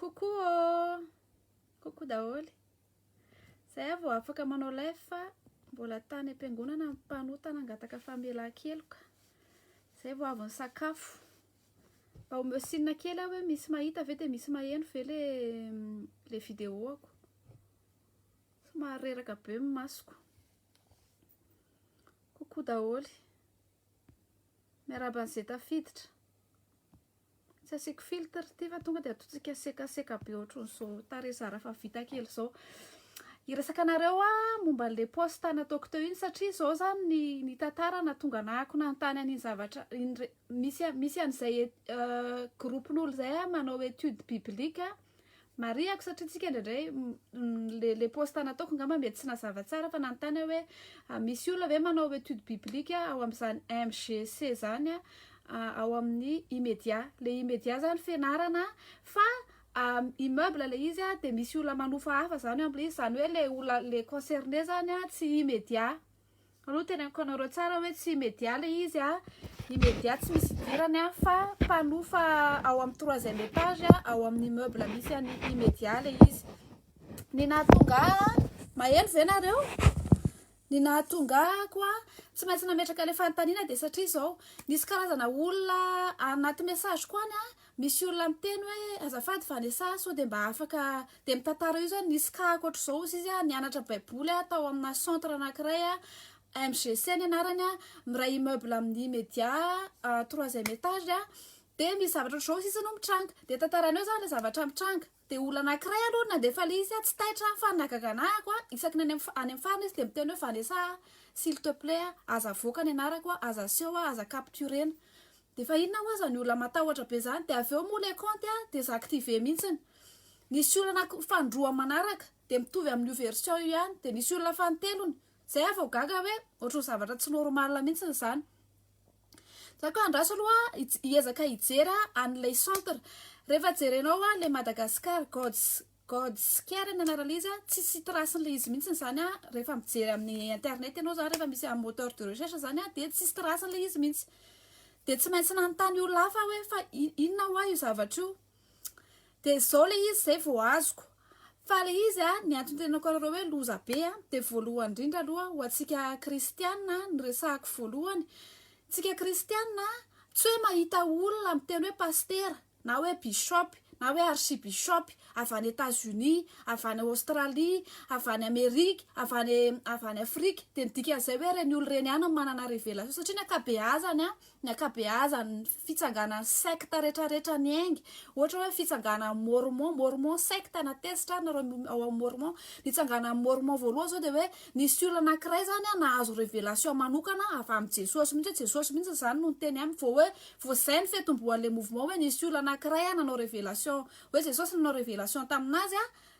Coucou oh! Coucou daholo. Zay aho vao afaka manao live fa mbola tany am-piangonana ny mpanota nangataka famelan-keloka. Zay vao avy nisakafo. Mba omeo sinina kely aho hoe misy mahita ve dia misy maheno ve le le vidéo-ako. Somary reraka be ny masoko. Coucou daholo. Miarahaba an'izay tafiditra. Tsy asiako filtre ity fa tonga dia ataontsika sekaseka be ohatran'ny izao tarehy zara fa vita kely izao. Hiresaka anareo aho momba an'ilay poste nataoko teo iny satria izao izany ny ny tantara nahatonga anah ako nanontany an'iny zavatra iny re- misy a- misy an'izay e- groupe-n'olo izay manao étude biblique. Marihako satria tsika indraindray le le poste nataoko ngamba mety tsy nazava tsara fa nanontany aho hoe ah, misy olona ve manao étude biblique ao amin'izany MGC zany ah, ao amin'ny Imedia. Le Imedia zany fenarana fa ah, immeuble le izy ah, de misy olona manofa hafa zany eo amin'ilay izy, zany hoe le olona le concerné zany ah, tsy Imedia. Alou teneniko anareo tsara hoe tsy media le izy a, ny media tsy misy idirany a, fa mpanofa ao amin'ny troisième étage ao amin'ny immeuble misy an'i Imedia le izy. Ny nahatonga ahy, mahery ve nareo? Ny nahatonga ahy koa tsy maintsy nametraka le fanontaniana dia satria izao, nisy karazana olona anaty message-ko any a, Misy olona miteny hoe azafady Vanessa a, sao dia mba afaka dia mitantara io zany nisy cas akoatr'izao ozy izy a nianatra baiboly a tao amina centre anankiray a MGC ny anarany a miray immeuble amin'ny media troisième étage a dia misy zavatra ohatr'izao ozy izy no mitranga dia tantarany eo zany le zavatra mitranga Dia olona anankiray aloha no nandefa ilay izy, tsy taitra fa ny nahagaga anahy ako a, isaky ny any amin'ny any amin'ny farany izy dia miteny hoe Vanessa a, s'il te plait a, aza avoaka ny anarako a, aza aseho a, aza capturena. Dia efa inona ho'aza ny olona matahotra be izany. Dia avy eo moa ilay kaonty a, désactiver mihitsiny. Nisy olona anaky fanindroa manaraka, dia mitovy amin'io version io ihany, dia nisy olona fanintelony. Izay aho vao gaga hoe ohatran'ny zavatra tsy normal mihitsiny izany. za koa andraso aloha hiezaka hijera an'ilay centre rehefa jerenao a le Madagascar God's God's Care ny anarana izy tsy sy trace-n'le izy mihitsy zany a rehefa mijery amin'ny internet ianao zany rehefa misy amin'ny moteur de recherche zany a dia tsisy trace-n'le izy mihitsy dia tsy maintsy nanontany olona hafa aho hoe fa inona hoa io zavatra io dia zao le izy zay vao azoko fa le izy a ny antony tenenako anareo hoe loza be a dia voalohany indrindra aloha ho antsika kristiana ny resahako voalohany tsika kristiana tsy hoe mahita olona miteny hoe pastera na hoe bishop na hoe archi bishop avy any Etats Unis avy any Australie avy any Amerique avy any avy any Afrique dia ny dikan'izay hoe ireny olona ireny ihany no manana révélation satria ny ankabeazany a ny ankabeazany fitsanganan'ny secte retraretra ny engy ohatra hoe fitsanganan'ny mormon mormon secte na tezitra ary nareo ao amin'ny mormon ny tsanganan'ny mormon voalohany zao dia hoe nisy olona anankiray zany a nahazo révélation manokana avy amin'i jesosy mihitsy hoe jesosy mihitsy izany no niteny aminy vao hoe vao zay ny fiatombohan'ilay mouvement hoe nisy olona anankiray a nanao révélation hoe jesosy nanao révélation tamin'azy a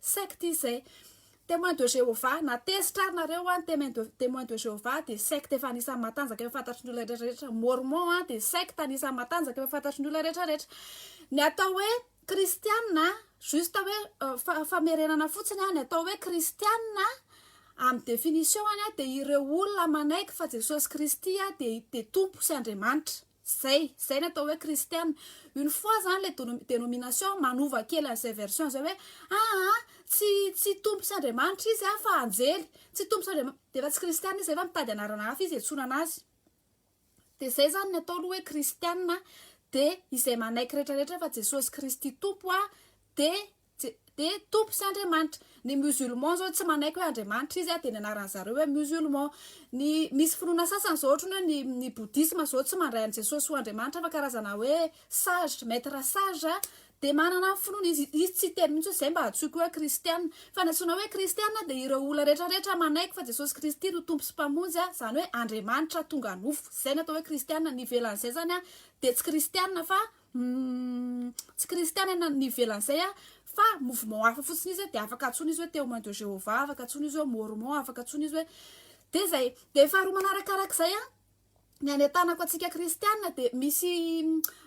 Secte izay. Témoin de Jéhovah, na tezitra ary nareo an, Témoin de Jéhovah dia secte efa anisan'ny matanjaka efa fantatry ny olona rehetra rehetra, Mormon an dia secte anisan'ny matanjaka efa fantatry ny olona rehetra rehetra. Ny atao hoe kristiana an, juste hoe famerenana fotsiny an, ny atao hoe kristiana an, amin'ny définition-ny an dia ireo olona manaiky fa Jesosy Kristy dia Tompo sy Andriamanitra. Zay, zay ny atao hoe kristiana. Une fois zany le denomination manova kely an'izay version zay hoe aa tsy tsy tompo sy Andriamanitra izy a fa anjely, tsy tompo sy Andriamanitra de efa tsy kristiana izy zay fa mitady anarana hafa izy iantsoana anazy. De zay zany ny atao aloha hoe kristiana de izay manaiky retraretra fa Jesosy Kristy Tompo a de Tsy de Tompo sy Andriamanitra. Ny musulman zao tsy manaiky hoe Andriamanitra izy a, de ny anaran zareo hoe musulman. Ny misy finoana sasany zao ohatrany hoe ny ny bouddhisme zao tsy mandray an'i Jesosy ho Andriamanitra fa karazana hoe sage, maître sage a, de manana ny finoany izy, izy tsy hiteny mintsy hoe zay mba antsoiko hoe kristiana. Fa ny antsoina hoe kristiana de ireo olona rehetra rehetra manaiky fa Jesosy Kristy no Tompo sy Mpamonjy a, zany hoe Andriamanitra tonga nofo, zay no atao hoe kristiana, ny ivelan'izay zany a de tsy kristiana fa Humm tsy kristianina ny ivelan'izay a fa mouvement hafa fotsiny izy de afaka antsoina izy hoe témoin de Jéhovah afaka antsoina izy hoe mormon afaka antsoina izy hoe de zay de faharoa manarakarak'izay a ny any an-tanako antsika kristianina de misy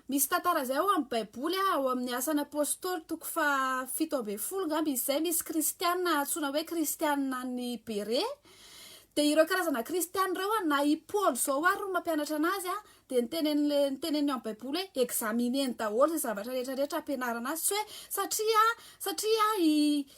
misy tantara zay ao amin'ny baiboly a ao amin'ny asan'ny apôstôly toko fahafito ambin'ny folo angamba izy zay misy kristianina antsoina hoe kristianina ny bere de ireo karazana kristianina ireo a na i Paoly zao ary no mampianatra anazy a dia nitenen'le nitenen'ny amin'ny baiboly hoe examineny daholo izay zavatra rehetra rehetra ampianarana azy tsy hoe satria satria i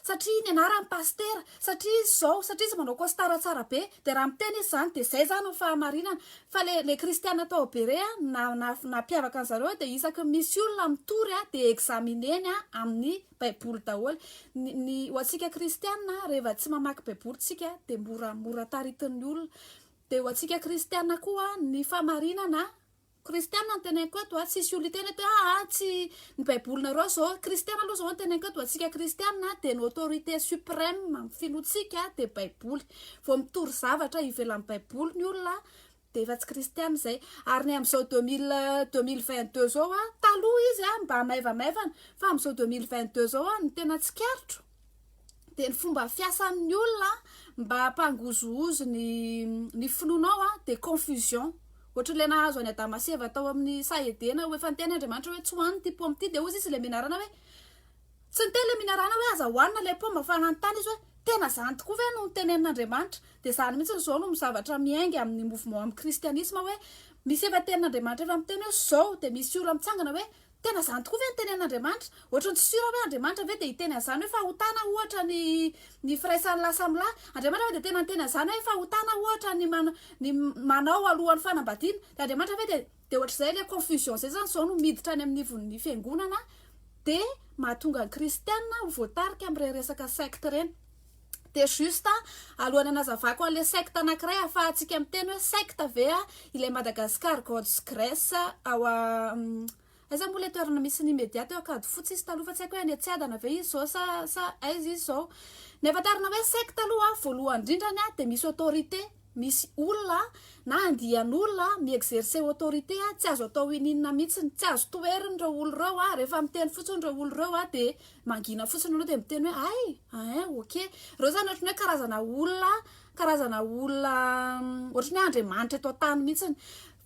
satria ny anarany pastera satria izy izao satria izy manao costara tsara be dia raha miteny izy izany dia izay izany ny fahamarinana fa le le kristiana tao berea na na nampiavaka an'i zareo dia isaky ny misy olona mitory a dia examineny a amin'ny baiboly daholo ny ny ho antsika kristiana rehefa tsy mamaky baiboly tsika dia mora mora taritin'ny olona Dia ho antsika kristiana koa ny fahamarinana, kristiana no teneniko eto a, tsy hisy olona hiteny eto hoe aa tsy ny baibolinareo izao, kristiana aloha izao no teneniko eto, ho antsika kristiana dia ny autorité suprême amin'ny finoantsika dia baiboly, vao mitory zavatra ivelan'ny baiboly ny olona dia efa tsy kristiana izay, ary ny amin'izao deux mille deux mille vingt deux izao a, taloha izy a mba maivamaivana fa amin'izao deux mille vingt deux izao a ny tena tsikaritro. dia ny fomba fiasan'ny olona mba hampangozohozo ny ny finoanao a dia confusion ohatr'ilay nahazo any adama sy eva tao amin'ny saha edena ho efa niteny andriamanitra hoe tsy hohaniny ity paoma ity dia hozy izy ilay minarana hoe tsy niteny ilay minarana hoe aza hohanina ilay paoma fa nanontany izy hoe tena izany tokoa ve no nitenenin'andriamanitra dia izany mihitsy ny izao no zavatra miainga amin'ny mouvement amin'ny kristianisma hoe misy efa tenin'andriamanitra efa miteny hoe izao dia misy olona mitsangana hoe Tena izany tokoa ve ny tenen'Andriamanitra? Ohatran'ny tsy sûr aho hoe Andriamanitra ve dia hiteny an'izany hoe fahotana ohatra ny ny firaisan'ny lahy samy lahy? Andriamanitra ve dia tena niteny an'izany hoe fahotana ohatra ny man ny manao alohan'ny fanambadiana? Dia Andriamanitra ve dia dia ohatr'izay ilay confusion izay izany izao no miditra any amin'ny ivon'ny fiangonana dia mahatonga ny kristiana ho voatarika amin'ireny resaka secte ireny. Dia juste alohan'ny hanazavako an'ilay secte anankiray ahafahantsika miteny hoe secte ve ilay Madagascar Gods Grace ao aiza moa ilay toerana misy ny media teo Ankadifotsy izy taloha fa tsy haiko hoe any Atsiadana ve izy izao sa sa aiza izy izao. Ny ahafantarana hoe secte aloha voalohany indrindra ny dia misy autorité misy olona na andian'olona mi-exercer autorité tsy azo atao ininona mihitsy, tsy azo toherin'ireo olona ireo rehefa miteny fotsiny ireo olona ireo dia Mangina fotsiny aloha dia miteny hoe ay ain ok. Ireo izany ohatran'ny hoe karazana olona karazana olona mm, ohatran'ny hoe andriamanitra eto an-tany mihitsiny.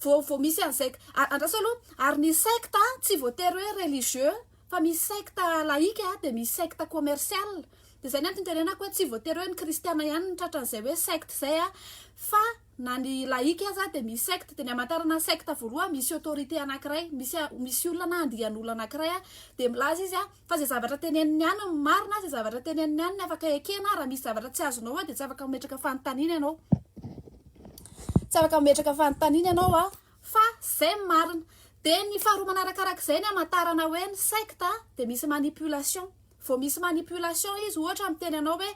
Vao vao misy an'izay andraso aloha ary ny secte tsy voatery hoe religieux fa misy secte laïque dia misy secte commercial. Dia izay ny antony itenenako hoe tsy voatery hoe ny kristiana ihany no tratran'izay hoe secte izay fa Na ny laïc aza dia misy secte, dia ny hamantarana secte voalohany misy autorité anankiray, misy misy olona na andian'olona anankiray a, dia milaza izy a, fa izay zavatra teneniny ihany no marina a, izay zavatra teneniny ihany no afaka ekena a, raha misy zavatra tsy azonao a, dia tsy afaka mametraka fanontaniana ianao, tsy afaka mametraka fanontaniana ianao a, fa izay no marina, dia ny faharoa manarakarak'izay ny hamantarana hoe ny secte dia misy manipulation. vao misy manipulation izy ohatra miteny anao hoe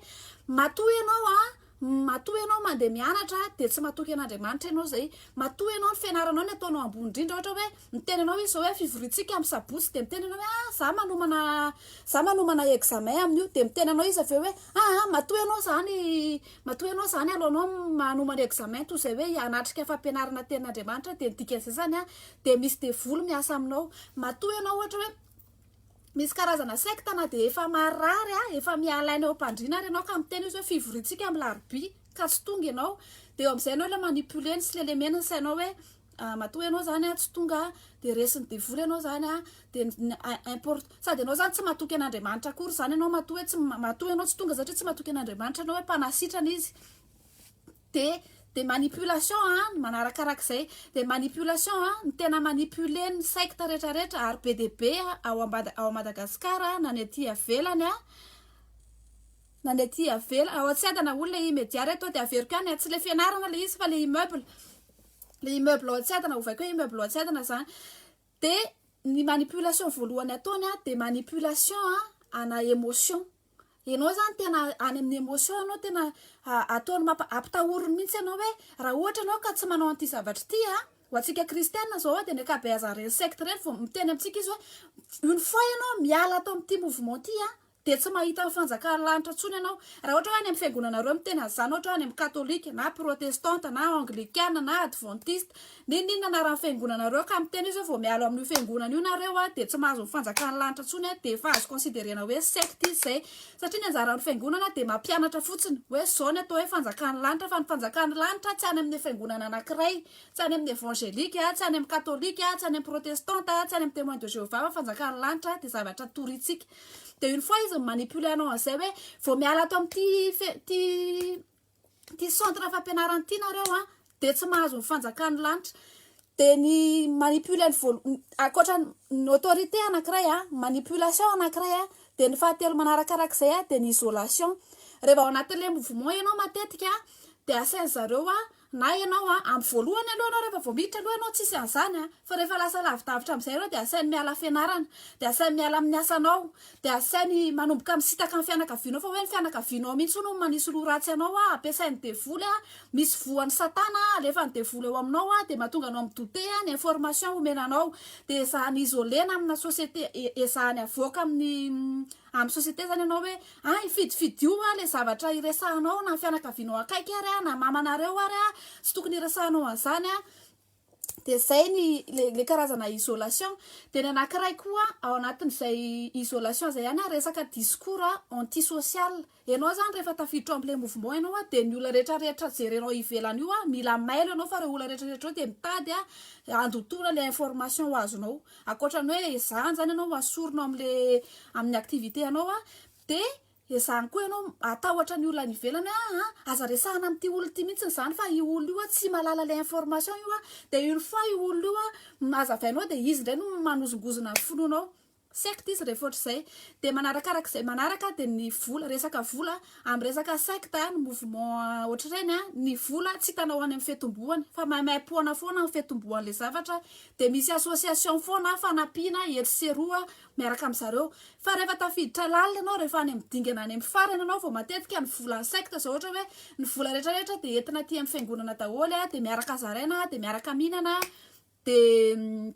matoa ianao a matoa ianao mandeha mianatra dia tsy matoky an'andriamanitra ianao zay matoa ianao ny fianaranao ny ataonao ambony indrindra ohatra hoe miteny anao izy zao hoe fivoriantsika amin'ny sabotsy dia miteny anao hoe ah za manomana za manomana examen amin'io dia miteny anao izy avy eo hoe ah matoa ianao zany matoa ianao zany alohanao manomana examen toy izay hoe hanatrika fampianarana tenin'andriamanitra dia ny dikan'izay zany a dia misy devoly miasa aminao matoa ianao ohatra hoe misy karazana sekta na dia efa marary a efa miala aina ao am-pandriana ary ianao ka miteny izy hoe fivoriantsika amin'ny larobia ka tsy tonga ianao dia eo amin'izay ianao ilay manipuler ny sy lelemena ny sainao hoe ah, matoa ianao zany a tsy tonga dia resin'ny devoly ianao zany a dia import sady ianao zany tsy matoky an'andriamanitra akory zany ianao matoa hoe tsy matoa ianao tsy tonga satria tsy matoky an'andriamanitra ianao hoe mpanasitrana izy de de manipulation a ny manarakaraka izay de manipulation a ny tena manipuler ny secte retraretra ary be de be ao ambada ao Madagascar na ny aty avelany a na ny aty avela ao tsy adana olona i media reto de averiko any a tsy le fianarana le izy fa le immeuble le immeuble ao tsy adana ovaiko hoe immeuble ao tsy adana zany de ny manipulation voalohany ataony a de manipulation a ana emotion enao zany tena any amin'ny emotion anao tena ataony mampa ampitahoriny mihitsy anao hoe raha ohatra anao ka tsy manao an'ity zavatra ity a ho antsika kristiana zao a de ny ankabeazan'ireny secte ireny vao miteny amintsika izy hoe une fois ianao miala ato amin'ity mouvement ty a dia tsy mahita ny fanjakan'ny lanitra intsony ianao. Raha ohatra hoe any amin'ny fiangonanareo miteny an'izany, ohatra hoe any amin'ny katolika, na protestanta, na anglikana, na advantista, n'inon'inona anaran'ny fiangonanareo, ka miteny hoe izao vao miala ao amin'io fiangonana io nareo dia tsy mahazo ny fanjakan'ny lanitra intsony, dia efa azo considerena hoe secte izy izay. Satria ny anjaran'ny fiangonana dia mampianatra fotsiny hoe izao ny atao hoe fanjakan'ny lanitra, fa ny fanjakan'ny lanitra tsy any amin'ny fiangonana anankiray, tsy any amin'ny evangelika, tsy any amin'ny katolika, tsy any amin'ny protestanta, tsy any amin'ny temoins de Jehovah, fa fanjakan'ny lanitra dia zavatra torintsika. de une fois izy mi-manipuler anao an'izay hoe vao miala ato amin'ity fe- ty ty centre fampianarana ity nareo a de tsy mahazo ny fanjakan'ny lanitra de ny manipuler ny voalo- n- ankoatra ny autorité anankiray a manipulation anankiray a de ny fahatelo manarakarak'izay a de ny isolation raha vao ao anatin'ilay mouvement ianao matetika de asain'zareo a Na ianao an, amin'ny voalohany aloha ianao rehefa vao miditra aloha ianao tsisy an'izany an, fa rehefa lasa lavidavitra amin'izay ianao dia asainy miala fianarana, dia asainy miala amin'ny asanao, dia asainy manomboka misitaka ny fianakavianao fa hoe ny fianakavianao mihitsy hono no manisy loha ratsy anao an, ampiasain'ny devoly an, misy voan'i satana an, alefan'ny devoly ao aminao an, dia mahatonga anao mi-douter an, ny information omena anao dia ezahana isoler-na amina société, ezahany avoaka amin'ny Amin'ny société zany ianao hoe ah hifidifidio ah le zavatra iresahanao na fianakavianao akaiky ary ah na mamanareo ary ah tsy tokony iresahanao an'izany ah dia zay ny le le karazana isolation dia ny anankiray koa ao anatin'izay isolation zay ihany ah resaka discours anti-social Enao zany rehefa tafiditra ao amle mouvement enao a de ny olona rehetra rehetra jerenao ivelany io a mila mailo enao fa reo olona rehetra rehetra reo de mitady a andotoana le information azonao akoatrany oe ezahany zany enao asorina ao amle aminy activite anao a de ezahany koa enao atahotra ny olona any ivelany oe aa aza resahana amty olona ty mintsiny zany fa io olona io a tsy malala le information io a de une fois io olona io a hazavainao de izy ndray no manozongozona ny finoanao Secte izy rehefa ohatr'izay dia manarakaraka izay manaraka dia ny vola resaka vola amin'ny resaka secte ny mouvement ohatr'ireny a ny vola tsy hitanao any amin'ny fiatombohany fa maimaimpoana foana ny fiatombohan'ilay zavatra dia misy association foana fanampiana etsy sy eroa miaraka amin'ny zareo fa rehefa tafiditra lalina ianao rehefa any amin'ny dingana any amin'ny farany ianao vao matetika ny volan'ny secte izao ohatra hoe ny vola rehetra rehetra dia entina aty amin'ny fiangonana daholo a dia miaraka zaraina dia miaraka mihinana dia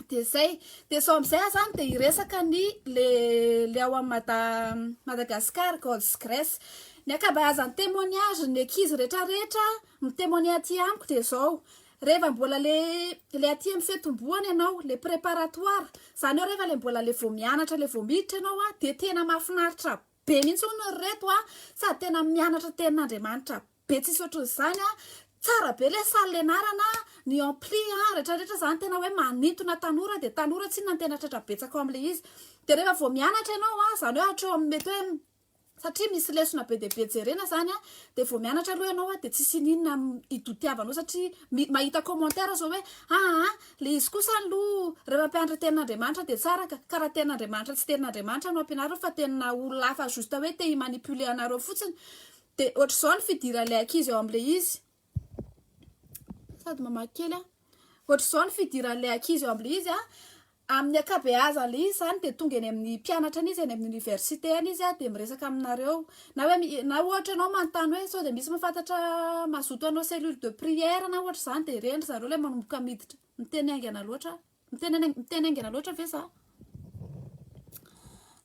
Dia zay, dia sao amizay aza any dia hiresaka ny le le ao am Mada Madagascar God's Grace. Ny ankabeazan'ny témoignage ny ankizy rehetra rehetra mi témoigner aty amiko dia zao, reheva mbola le le aty am fiatombohana ianao, le préparatoire, zany hoe reheva le mbola le vao mianatra le vao miditra ianao an dia tena mahafinaritra be mihitsy hono ry reto an, sady tena mianatra ny tenin'Andriamanitra Be tsisy ohatran'izany a. Tsara be le salle ianarana a, ny ampli a, rehetra rehetra zany tena hoe manintona tanora dia tanora tsinona ny tena tratra betsaka ao amin'ilay izy. Dia rehefa vao mianatra ianao a, izany hoe hatreo amin'ny mety hoe satria misy lesona be dia be jerena izany a, dia vao mianatra aloha ianao a dia tsisy iniana idotiavanao satria mi- mahita commentaire izao hoe aa le izy kosa aloha rehefa hampianatra ny tenin'Andriamanitra dia tsara ka, ka raha tenin'Andriamanitra tsy tenin'Andriamanitra no ampianarina fa tenina olona hafa juste hoe te hi-manipuler anareo fotsiny Dia ohatr'izao ny fidiran'ilay ankizy ao amin'ilay izy. Sady mamaky kely aho. Ohatr'izao ny fidiran'ilay ankizy ao amin'ilay izy. Amin'ny ankabeazan'ilay izy izany dia tonga eny amin'ny mpianatra any izy, eny amin'ny oniversite any izy dia miresaka aminareo. Na hoe na ohatra ianao manontany hoe sao dia misy mahafantatra mazoto hanao cellule de prière na ohatra izany dia reny ry zareo ilay manomboka miditra. Miteny haingana loatra. Miteny miteny haingana loatra ve za?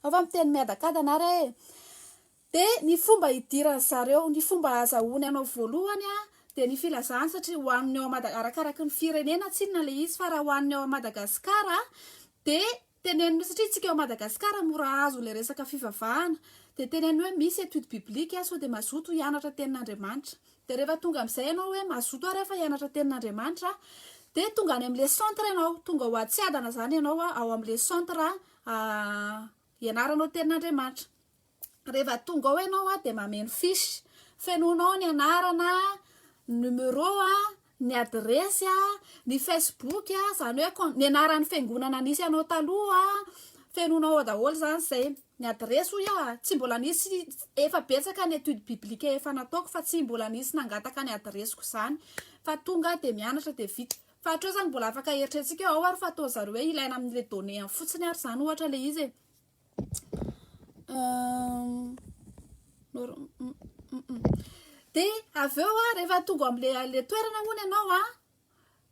Ao fa miteny miadakadana ary e. Dia ny fomba hidiran'ny zareo, ny fomba azahoany anao voalohany an, dia ny filazany satria ho an'ny ao Mada, arakaraky ny firenena tsinona ilay izy, fa raha ho an'ny ao Madagascar dia teneniny hoe, satria isika ao Madagascar mora azo ilay resaka fivavahana, dia teneniny hoe misy étude biblique sao dia mazoto hianatra tenin'Andriamanitra. Dia rehefa tonga amin'izay ianao hoe mazoto ary aho fa hianatra tenin'Andriamanitra, dia tonga any amin'ilay centre ianao, tonga ho atsiadana izany ianao ao amin'ilay centre an, Ianaranao tenin'Andriamanitra. Rehefa tonga ao ianao dia mameno fiche. Fenoinao ny anarana, ny numéro, ny adiresy, ny Facebook, izany hoe ny anaran'ny fiangonana nisy anao taloha, fenoinao ao daholo izany izay. Ny adiresy hoy aho, tsy mbola nisy, efa betsaka ny étude biblique efa nataoko fa tsy mbola nisy nangataka ny adiresiko izany fa tonga aho dia mianatra dia vita. Fa hatreo izany mbola afaka eritreretintsika hoe ao ary fa ataon'ny zareo hoe ilaina amin'ilay donnée ihany fotsiny ary izany ohatra ilay izy e. Dia avy eo a, rehefa tonga amin'ilay toerana hono ianao a,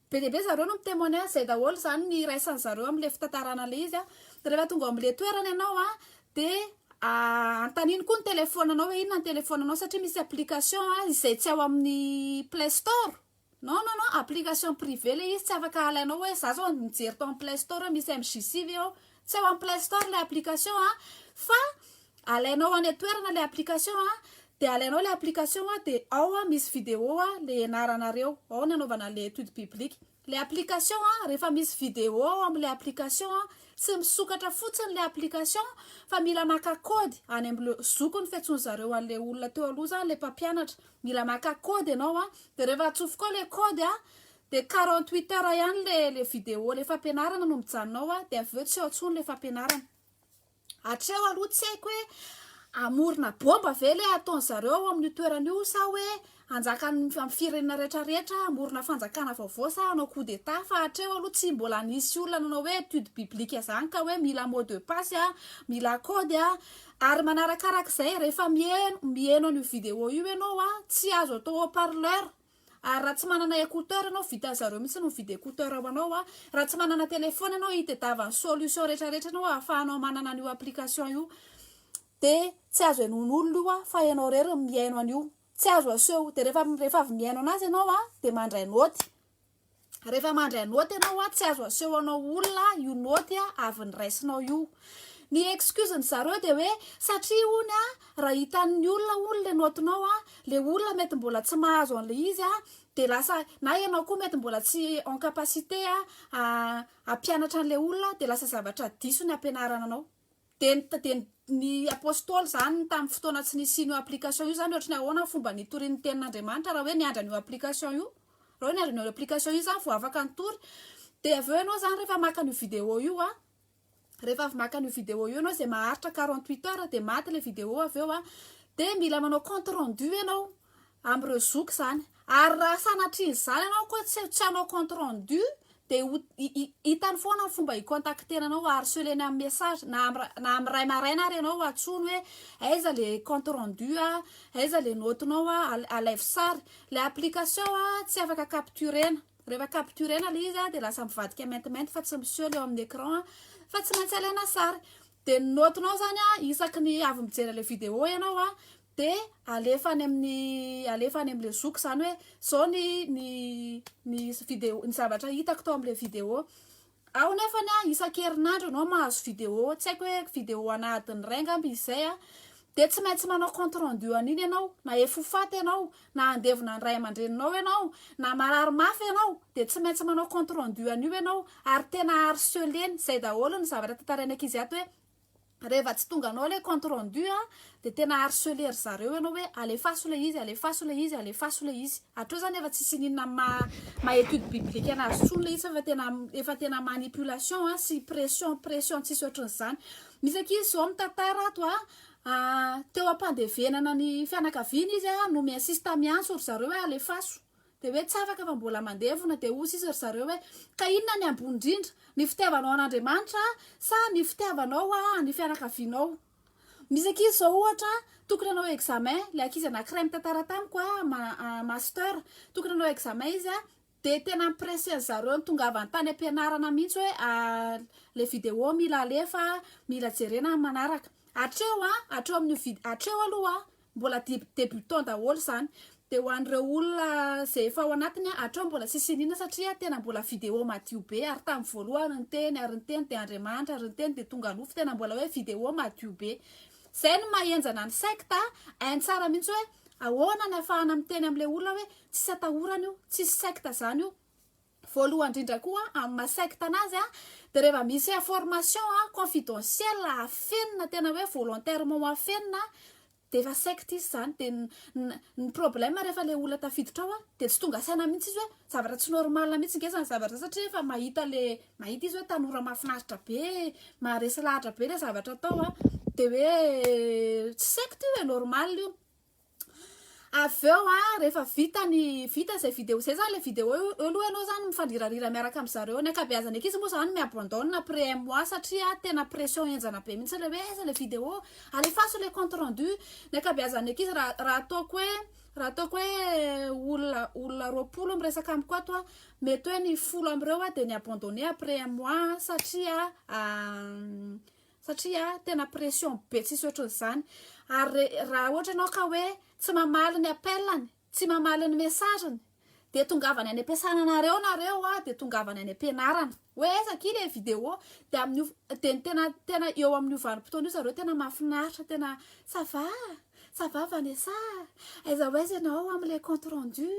be dia be zareo no mi-témoigner izay daholo izany ny iraisan'ny zareo amin'ilay fitantarana ilay izy a. Dia rehefa tonga amin'ilay toerana ianao a, dia anontaniany koa ny telefaonanao hoe inona ny telefaonanao satria misy application izay tsy ao amin'ny play store. Non non non application privé le izy tsy afaka alainao hoe za zao mijery tao am play store hoe misy MJC ve ao tsy ao am play store le application a fa alainao any an-toerana le application a de alainao le application a de ao a misy video a le hianaranareo ao ny anaovana an'le étude biblique le application a rehefa misy video ao am'le application a tsy misokatra fotsiny le application fa mila maka kody any am'le zokiny fiantsoany zareo an'le olona teo aloha zany le mpampianatra mila maka code ianao a, de rehefa atsofoko ao le code a, de quarante huit heures ihany le le video le fampianarana no mijanona ao a, de avy eo tsy ao intsony le fampianarana, hatreo aloha tsy haiko hoe hamorona bomba ve le ataony zareo ao amin'io toerana io sa hoe hanjaka am am firenena rehetra rehetra hamorona fanjakana vaovao sa hanao coup d'etat fa hatreo aloha tsy mbola nisy olona nanao hoe étude biblique zany ka hoe mila mot de passe a, mila code a. Ary manarakaraka izay rehefa miheno miheno an'io vidéo io ianao a, tsy azo atao haut parleur, ary raha tsy manana écouteur ianao, vitan'ny zareo mihitsy ny mividy écouteur ho anao a, raha tsy manana téléphone ianao hitedava ny solution retraretra anao ahafahanao manana an'io application io, dia tsy azo henoin'olona io a, fa ianao irery no mihaino an'io, tsy azo aseho, dia rehefa rehefa avy mihaino an'azy ianao a, dia mandray naoty. rehefa mandry anôty ianao a tsy azo aseho anao olona io nôty a avy ny raisinao io ny excuse ny zareo de hoe satria ony a raha hitan'ny olona ony le nôtinao a le olona mety mbola tsy mahazo an'le izy a de lasa na ianao koa mety mbola tsy en capacité a ampianatra an'le olona de lasa zavatra diso ny ampianarana anao Dia ny dia ny ny Apôstôly izany tamin'ny fotoana tsy nisian'io application io izany ohatran'ny ahoana ny fomba nitoriany ny tenin'Andriamanitra raha hoe niandry an'io application io? Raha hoe niandry an'io application io izany vao afaka nitory dia avy eo ianao izany rehefa maka an'io vidéo io an, rehefa avy maka an'io vidéo io ianao izay maharitra quarante huit heures dia maty ilay vidéo avy eo an, dia mila manao compte rendu ianao, amin'ireo zoky izany ary raha sanatrian'izany ianao koa tsy tsy hanao compte rendu dia ho hitany foana ny fomba hikontaktena anao harcelena amin'ny message na amin'ny na amin'ny ray maraina ary ianao hatsoiny hoe aiza le compte rendu a aiza le notenao a alaivo sary le application a tsy afaka capturena rehefa capturena le izy a dia lasa mivadika maintimainty fa tsy miseho le eo amin'ny écran a fa tsy maintsy alaina sary dia ny notenao izany a isaky ny avy mijery ilay vidéo ianao a dia alefa any amin'ny alefa any amin'ilay zoky izany hoe izao ny ny ny vidéo ny zavatra hitako tao amin'ilay vidéo aho nefa ny aho isan-kerinandro ianao mahazo vidéo tsy haiko hoe vidéo ana adiny iray angamba izy izay a dia tsy maintsy manao compte rendu an'iny ianao na efofaty ianao na andevona ny ray aman-dreninao ianao na marary mafy ianao dia tsy maintsy manao compte rendu an'io ianao ary tena harceler-ny izay daholo ny zavatra tantarain'ny ankizy ato hoe Reva tsy tonga anao ilay compte rendu a dia tena harceler ry zareo ianao hoe alefaso ilay izy, alefaso ilay izy, alefaso ilay izy. Hatreo izany efa tsisy ininona amin'ny maha maha étude biblique an'azy intsony ilay izy fa efa tena efa tena manipulation a sy pression pression tsisy ohatran'izany. Misy ankizy izao mitantara ato a teo am-pandevenana ny fianakaviany izy a no mi-insiste miantso ry zareo hoe alefaso Dia hoe tsaraka fa mbola mandevona, dia hoy izy ry zareo hoe, Ka inona ny ambony indrindra, ny fitiavanao an'Andriamanitra sa ny fitiavanao ny fianakavianao? Misy ankizy izao ohatra, tokony hanao examen, ilay ankizy anankiray mitantara tamiko, master, tokony hanao examen izy, dia tena mi-presser an-dry zareo nitongavany tany am-pianarana mihitsy hoe ilay vidéo mila alefa, mila jerena ny manaraka. Hatreo, hatreo amin'io vid, hatreo aloha. Mbola debutant daholo zany. Dia ho an'ireo olona izay efa ao anatiny an, hatrao mbola tsisy iniana satria tena mbola video madio be ary tamin'ny voalohany ny teny ary ny teny dia Andriamanitra ary ny teny dia tonga nofo tena mbola hoe video madio be. Izay no maha henjana ny secte an, hainy tsara mihitsy hoe ahoana ny hafahana miteny amin'ilay olona hoe tsisy atahorana io, tsisy secte izany io. Voalohany indrindra koa amin'ny maha secte anazy dia rehefa misy information confidentiel afenina tena hoe volontairement ho afenina dia efa secte izy izany dia ny problème rehefa ilay olona tafiditra ao dia tsy tonga saina mihintsy izy hoe zavatra tsy normal mihintsy nge izany zavatra izany satria efa mahita ilay mahita izy hoe tanora mahafinaritra be maharesy lahatra be ilay zavatra atao dia hoe tsy secte io e normal io avy eo a rehefa vita ny vita izay vidéo izay zany le vidéo eo aloha ianao zany mifandirarira miaraka amin' zareo ny ankabeazan'ny ankizy moa zany mi-abandonne après un mois satria tena pression henjana be mihitsy le hoe aiza le vidéo alefaso le compte rendu ny ankabeazan'ny ankizy raha raha ataoko hoe raha ataoko hoe olona olona roapolo miresaka amiko ato a mety hoe ny folo am'ireo a de ni-abandonne après un mois satria satria tena pression be tsisy ohatran'izany ary raha ohatra ianao ka hoe tsy mamaly ny appelany tsy mamaly ny messageny dia tongavany any am-piasana anareo nareo a dia tongavany any am-pianarana hoe aiza ki le video dia amin'io dia ny tena tena eo amin'io vanim-potoana io zareo tena mahafinaritra tena ça va ça va Vanessa aiza ho aiza ianao amin'ilay compte rendu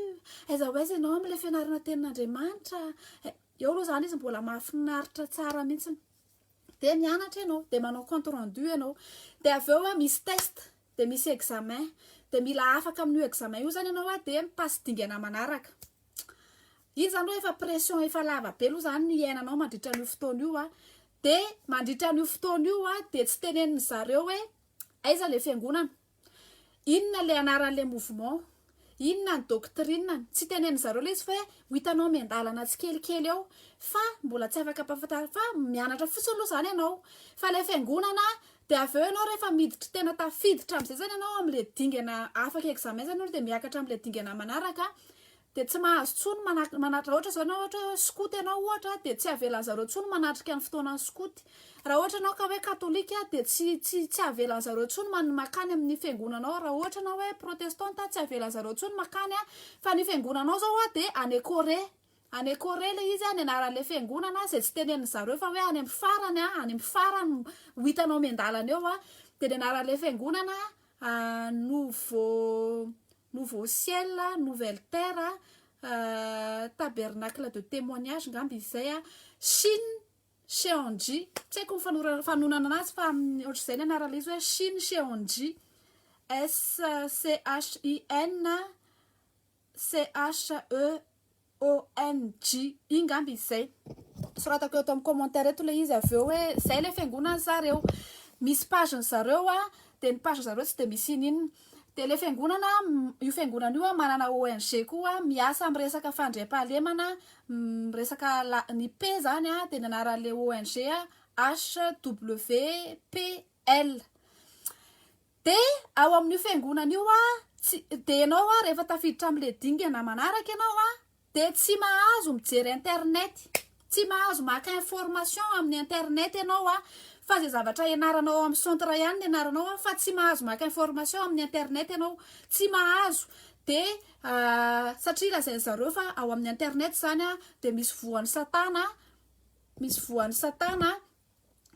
aiza ho aiza ianao amin'ilay fianarana tenin'Andriamanitra eo aloha izany izy mbola mahafinaritra tsara mihitsy dia mianatra ianao dia manao compte rendu ianao dia avy eo misy test dia misy examen dia mila afaka amin'io examen io zany ianao dia mi-passe dingana manaraka iny zany hoe efa pression efa lava be aloha zany ny iainanao mandritra an'io fotoana io dia mandritra an'io fotoana io dia tsy tenenin'ny zareo hoe aiza le fiangonana Inona ilay anaran'ilay mouvement? Inona ny doctrine-ny? Tsy tenenin-dry zareo ilay izy fa hoe ho hitanao miandalana tsikelikely eo fa mbola tsy afaka ampahafantarina fa mianatra fotsiny aloha izany ianao. Fa ilay fiangonana dia avy eo ianao rehefa miditra tena tafiditra amin'izay izany ianao amin'ilay dingana afaka examen izany ianao dia miakatra amin'ilay dingana manaraka dia tsy mahazo tsony manatrika manatrika raha ohatra izao ianao ohatra hoe skoto ianao ohatra dia tsy avelan'ny zareo tsony manatrika ny fotoanan'ny skoty raha ohatra ianao ka hoe katolika dia tsy tsy tsy avelan'ny zareo tsony man makany amin'ny fiangonanao raha ohatra ianao hoe protestanta tsy avelan'ny zareo tsony makany a fa ny fiangonanao zao a dia any Corée any Corée le izy a ny anaran'le fiangonana izay tsy tenenin'ny zareo fa hoe any amin'ny farany a any amin'ny farany ho hitanao miandalana eo a dia ny anaran'le fiangonana nouveau Nouveau ciel, nouvelle terre, tabernacle de témoignage angamba izy izay, Shin Cheonji, tsy haiko ny fanonana anazy fa ohatr'izay ny anarana izy hoe Shin Cheonji, S-C-H-I-N-C-H-E. OMG, iny ngamba izy zay. Soratako eto am commentaire eto le izy avy eo hoe zay le fiangonany zareo. Misy page ny zareo a, de ny page ny zareo tsy de misy ininona. De le fiangonana, io fiangonana io a manana ONG koa miasa am resaka fandriampahalemana, miresaka la- ny P zany a de ny anaranle ONG HWPL. Dia ao amin'io fiangonana io an, tsy, dia ianao an, rehefa tafiditra amin'ilay dingana manaraka ianao an, dia tsy mahazo mijery internet, tsy mahazo maka information amin'ny internet ianao an, fa izay zavatra ianaranao ao amin'ny centre ihany no ianaranao an, fa tsy mahazo maka information amin'ny internet ianao, tsy mahazo, dia satria lazain-dry zareo fa ao amin'ny internet izany an, dia misy voan'i satana, misy voan'i satana,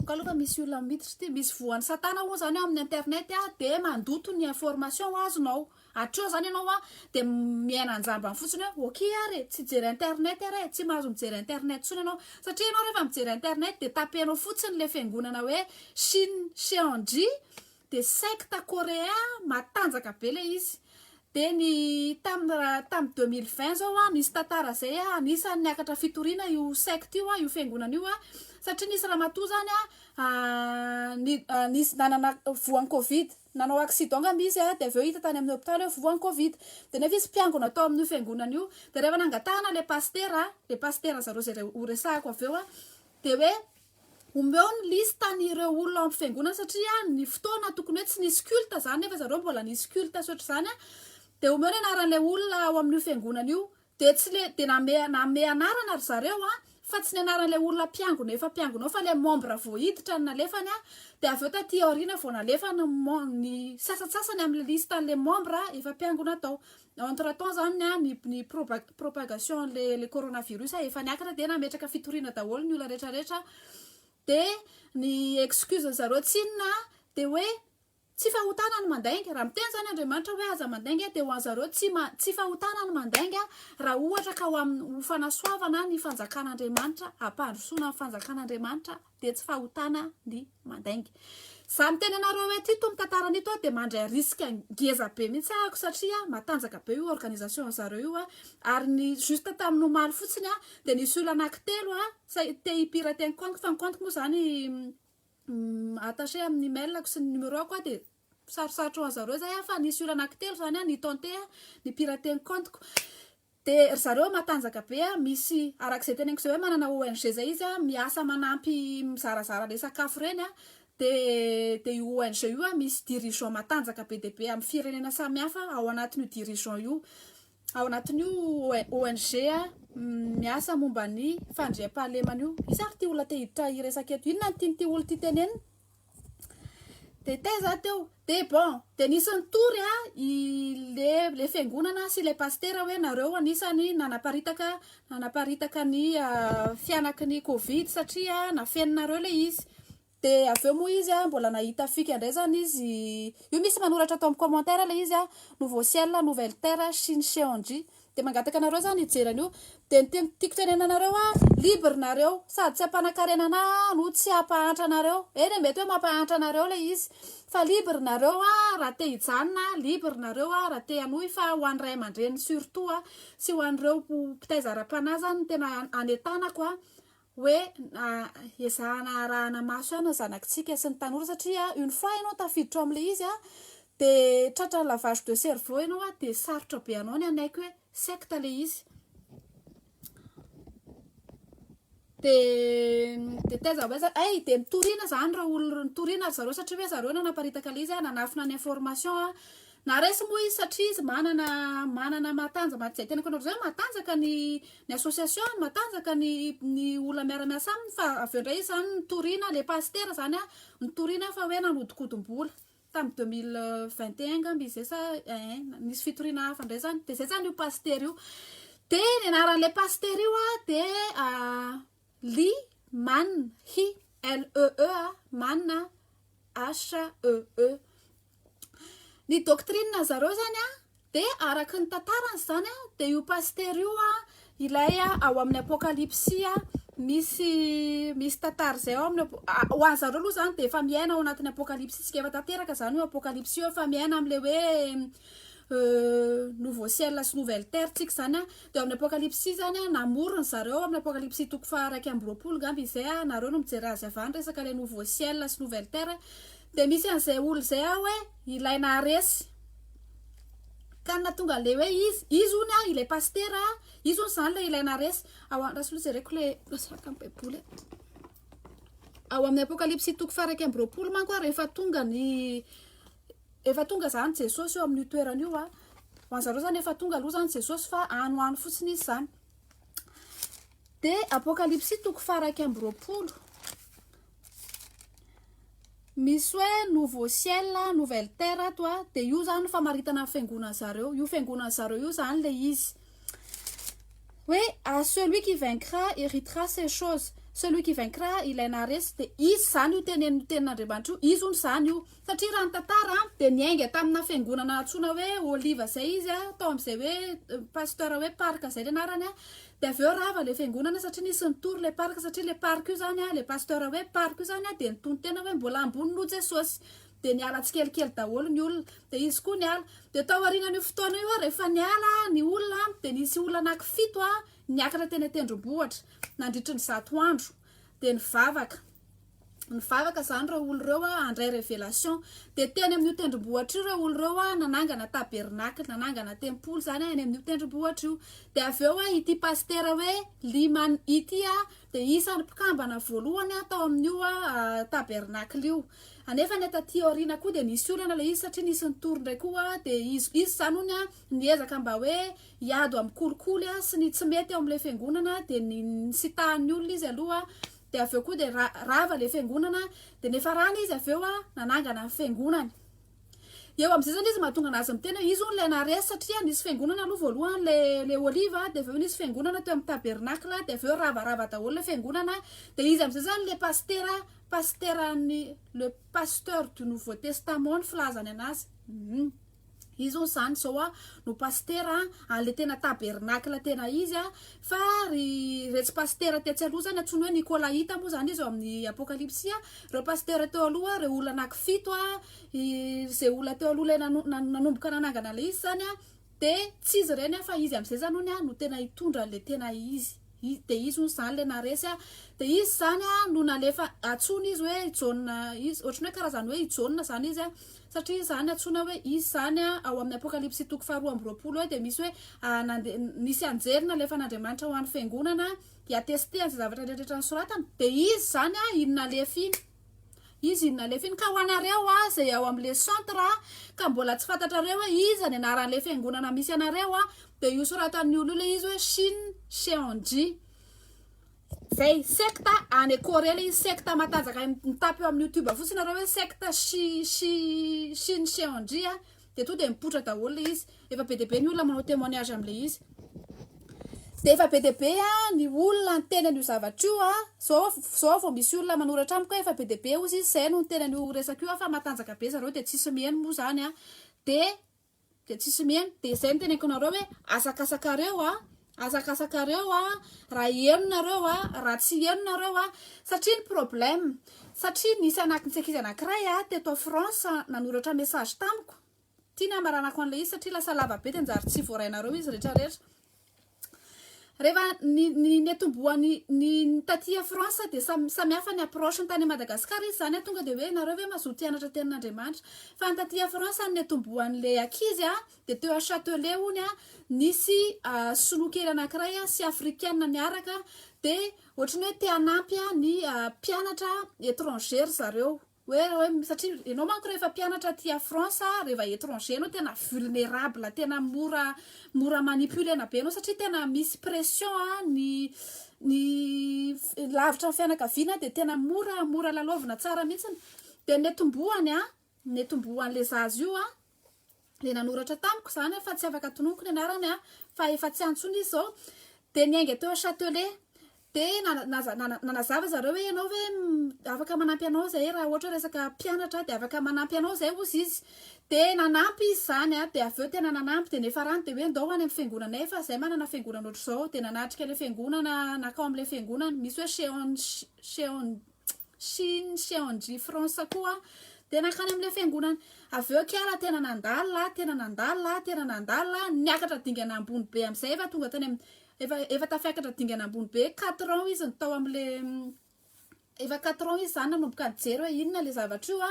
ka aloha fa misy olona miditra ity misy voan'ny satana hono zany ao amin'ny internet a de mandoto ny information azonao hatreo zany ianao a de miaina anjambany fotsiny hoe ok ary e tsy jery internet ary e tsy mahazo mijery internet tsony ianao satria ianao rehefa mijery internet de tapenao fotsiny le fiangonana hoe shin sheandry de secte coréen matanjaka be le izy de ny tam tam deux mille vingt zao a nisy tantara zay a anisany niakatra fitoriana io secte io a io fiangonana io a satria nisy ramatoa zany a ni nisy nanana voan'ny covid nanao accident ngamba izy a de avy eo hita tany amin'ny hopitaly hoe voan'ny covid de nefa izy mpiangona tao amin'io fiangonana io de rehefa nangatahana le pasitera le pasitera zareo zay re horesahako avy eo a de hoe Omeo ny liste ny ireo olona ao am fiangonana satria ny fotoana tokony hoe tsy nisy culte zany nefa zareo mbola nisy culte sy ohatr'izany a de omeo ny anaran'ilay olona ao amin'io fiangonana io de tsy le de name name anarana ry zareo a fa tsy ny anaran'ilay olona mpiangona efa mpiangona ao fa le membre vao hiditra no nalefany a de avy eo taty aoriana vao nalefany ny sasantsasany amin'ny liste an'le membre efa mpiangona tao Entre temps zany an ny ny propagation anle le coronavirus a efa niakatra de nametraka fitoriana daholo ny olona rehetra rehetra de ny excuse ny zareo tsy inona de hoe tsy fahotana ny mandainga raha miteny zany Andriamanitra hoe aza mandainga de ho an zareo tsy ma- tsy fahotana ny mandainga raha ohatra ka ho am- ho fanasoavana ny fanjakan'Andriamanitra hampandrosoana ny fanjakan'Andriamanitra dia tsy fahotana ny mandainga. Izaho miteny anareo eto ito mitantara an'ito aho dia mandray risque ngeza be mihitsy aho satria matanjaka be io organisation an'i zareo io ary ny juste tamin'ny omaly fotsiny aho dia nisy olona anankitelo aho te hi-pirater ny compte fa ny compte moa izany attaché amin'ny email-ko sy ny numéro-ko aho dia sarosarotra ho an'i zareo izay aho fa nisy olona anankitelo izany aho ni-tenter ny pirater ny compte-ko. De ry zareo matanjaka be a, misy arak'izay teneniko zay hoe manana ONG zay izy a, miasa manampy mizarazara le sakafo reny a, de de io ONG io a misy dirigeant matanjaka be dia be am firenena samihafa ao anatin'io dirigeant io ao anatin'io ONG miasa momba ny fandriampahalemana io, iza ary ty olona te hiditra hiresaka eto, inona no tian'ity olona ity tenenina? de tey za teo de bon de nisy nitory a i le le fiangonana sy le pastera hoe nareo anisany nanaparitaka nanaparitaka ny fianaky ny covid satria nafeninareo le izy de avy eo moa izy a mbola nahita fika indray zany izy io misy manoratra ato amin'ny commentaire le izy a nouveau ciel nouvelle terre sy ny cong Dia mangataka anareo zany hijery an'io dia ny tiako tiako tenenina anareo hoe libre nareo sady tsy hampanakarena anah aho no tsy hampahantra anareo eny e mety hoe mampahantra anareo ilay izy fa libre nareo raha te hijanona libre nareo raha te hanohy fa ho an'ny ray aman-dreny surtout sy ho an'ireo mpitaiza ara-panahy zany no tena hanetanako a hoe ezahana arahana maso ihany ny zanakitsika sy ny tanora satria une fois ianao tafiditra ao amin'ilay izy dia tratran'ny lavage de cerveau ianao dia sarotra be anao ny hanaiky hoe secte ilay izy dia dia taiza ho aiza ay dia mitoriana izany ireo olona mitoriana ry zareo satria hoe zareo no nanaparitaka ilay izy nanafina ny information Na resy moa izy satria izy manana manana mahatanja maha izay tena mpanao izay hoe mahatanjaka ny ny association-ny, mahatanjaka ny ny olona miara-miasa aminy fa avy eo indray izy izany nitoriana ilay pasitera izany an, nitoriana fa hoe nanodinkodimbola tamin'ny deux mille vingt et un angamba izy izay sa ein nisy fitoriana hafa indray izany dia izay izany io pasitera io dia ny anaran'ilay pasitera io an dia Lee Man Hee, LEE a, Man a, HEE. Ny doctrine zareo zany a, dia araka ny tantarany zany a, dia io pasitera io a, ilay ao amin'ny apokalypsy a, misy misy tantara zay ao amin'ny apo, ho an'ny zareo aloha zany dia efa miaina ao anatin'ny apokalypsy tsika efa tanteraka zany io apokalypsy io, efa miaina amle hoe nouveau ciel sy nouvelle terre tsika zany a. Dia ao amin'ny Apokalypsy izany an, namory ny zareo ao amin'ny Apokalypsy toko faha iraika amby roapolo ngamba izay an, nareo no mijery azy avy any resaka ilay nouveau ciel sy nouvelle terre, dia misy an'izay olona izay an hoe ilay naharesy ka na tonga ilay hoe izy, izy hono an ilay pasitera an, izy hono izany ilay ilay naharesy, ao an, rasoa jereko ilay place araka ny baiboly an, ao amin'ny Apokalypsy toko faha iraika amby roapolo manko an, rehefa tonga ny Efa tonga zany Jesosy eo amin'io toerana io an. Ho an'zareo zany efa tonga aloha zany Jesosy fa any ho any fotsiny izy zany. De apokalipsy toko faharaika amby roapolo. Misy hoe nouveau ciel, nouvelle terre ato a. De io zany famaritana ny fiangonana zareo. Io fiangonana zareo io zany le izy. Hoe à celui qui vaincra héritera ces choses. Celui qui vaincra ilay naharesy de izy zany io tenenin'ny tenin'Andriamanitra io. Izy hono zany io. Satria raha ny tantara dia niainga tamina fiangonana antsoina hoe Oliva izay izy tao amin'izay hoe Pasteur hoe Park izay ny anarany dia avy eo rava ilay fiangonana satria nisy nitory ilay Park satria ilay Park io izany ilay Pasteur hoe Park io izany dia nitony tena hoe mbola ambony noho Jesosy dia niala tsikelikely daholo ny olona dia izy koa niala dia tao aorianan'io fotoana io rehefa niala ny olona dia nisy olona anaky fito niakatra teny an-tendrombohitra nandritry ny zato andro dia nivavaka Nivavaka izany ireo olo ireo a, handray révélation. Dia teny amin'io tendrombohitra io ireo olo ireo a, nanangana tabernacle, nanangana tempoly izany any amin'io tendrombohitra io. Dia avy eo a, ity pasitera hoe Lyman ity a, dia isan'ny mpikambana voalohany a, tao amin'io a tabernacle io. Anefa ny taty aoriana koa dia nisy olana ilay izy satria nisy nitory indray koa a, dia izy izy izany hono a, niezaka mba hoe hiady amin'ny kolikoly a, sy ny tsy mety ao amin'ilay fiangonana, dia ni- nisitahan'ny olona izy aloha, dia avy eo koa dia ra, rava ilay fiangonana dia nifarana izy avy eo a nanangana ny fiangonany dia eo amin'izay zany izy mahatonga anazy miteny hoe izy hono ilay naharesy satria nisy fiangonana aloha voalohany le le oliva dia avy eo nisy fiangonana teo amin'ny tabernacle dia avy eo ravarava daholo ilay fiangonana dia izy amin'izay zany le pasitera pasiteran'ny le pasteur du nouveau testament ny filazany anazy um Izy hono zany zao a no pasitera a le tena tabernacle tena izy a fa ry retsy pasitera tetsy aloha zany antsoiny hoe nikolaita moa zany izy eo amin'ny apokalipsy a reo pasitera teo aloha reo olona anaky fito a izay olona teo aloha le nano- nan- nanomboka nanangana le izy zany a de tsy izy ireny a fa izy am'zay zany hono a no tena hitondra an'le tena izy i- de izy hono zany le naharesy a de izy zany a no nalefa antsoina izy hoe i jaona izy ohatran'ny hoe karazany hoe i jaona zany izy a Satria izany antsoina hoe izy izany ao amin'ny Apokalypsy toko faharoa amby roapolo hoe dia misy hoe nisy anjely nalefan'Andriamanitra ho an'ny fiangonana hiatestehana izay zavatra rehetra nosoratany dia izy izany iny nalefa iny izy iny nalefa iny ka ho anareo a izay ao amin'ilay centre ka mbola tsy fantatrareo hoe iza ny anaran'ilay fiangonana misy anareo a dia io soratan'ny olo io ilay izy hoe Shin Seonji Zay sekta any Corée le izy sekta matanjaka mitapy eo amin'ny youtube fotsiny nareo hoe sekta Shi Shi Shin Seonji a de tonga de mipoitra daholo le izy efa be dia be ny olona manao témoignage amle izy de efa be dia be a ny olona niteny an'io zavatra io a zao zao vao misy olona manoratra amiko efa be dia be ozy izy zay no niteny an'io resaka io a fa matanjaka be zareo de tsisy miheno moa zany a de dia tsisy miheno dia izay ny teneniko anareo hoe azakasakareo a azakasakareo a raha heno nareo a raha tsy heno nareo a satria ny problème satria nisy anakin'ny sekizy anakiray a teto France nanoratra message tamiko tiana hamaranako an'ilay izy satria lasa lava be dia njary tsy voarainareo izy rehetrarehetra Rehefa ny ny niatombohan'ny ny taty à France dia samy samy hafa ny approche ny tany à Madagascar izy zany tonga dia hoe nareo ve mazoto hianatra tenin'Andriamanitra fa ny taty à France ny niatombohan'ilay ankizy a dia teo à Châtelet hono a nisy sinoa kely anankiray a sy afrikana niaraka dia ohatran'ny hoe te hanampy a ny mpianatra étranger ry zareo Hoe hoe satria ianao manko rehefa mpianatra aty a France rehefa étranger ianao tena vulnerable tena mora mora manipulena be ianao satria tena misy pression a ny ny lavitra ny fianakaviana dia tena mora mora lalaovina tsara mihitsiny dia ny atombohany a ny atombohan'ilay zaza io a le nanoratra tamiko zany fa tsy afaka tononiko ny anarany a fa efa tsy antsony izy zao de niainga teo chatelet de nanazava zareo hoe ianao hoe afaka manampy anao zay raha ohatra resaka mpianatra de afaka manampy anao zay ozy izy de nanampy izy zany a de avy eo tena nanampy de nefa rano de hoe ndao any amin'ny fiangonana efa zay manana fiangonana ohatr'izao de nanatrika le fiangonana nakao am'le fiangonana misy hoe cheon cheon Chine sy Andry France koa dia nankany amin'ilay fiangonana avy eo kiala tena nandala tena nandala tena nandala niakatra dingana ambony be amin'izay efa tonga tany amin'ny efa efa tafiakatra dingana ambony be quatre ans izy ny tao amin'ilay efa quatre ans izy zany nanomboka nijery hoe inona le zavatra io a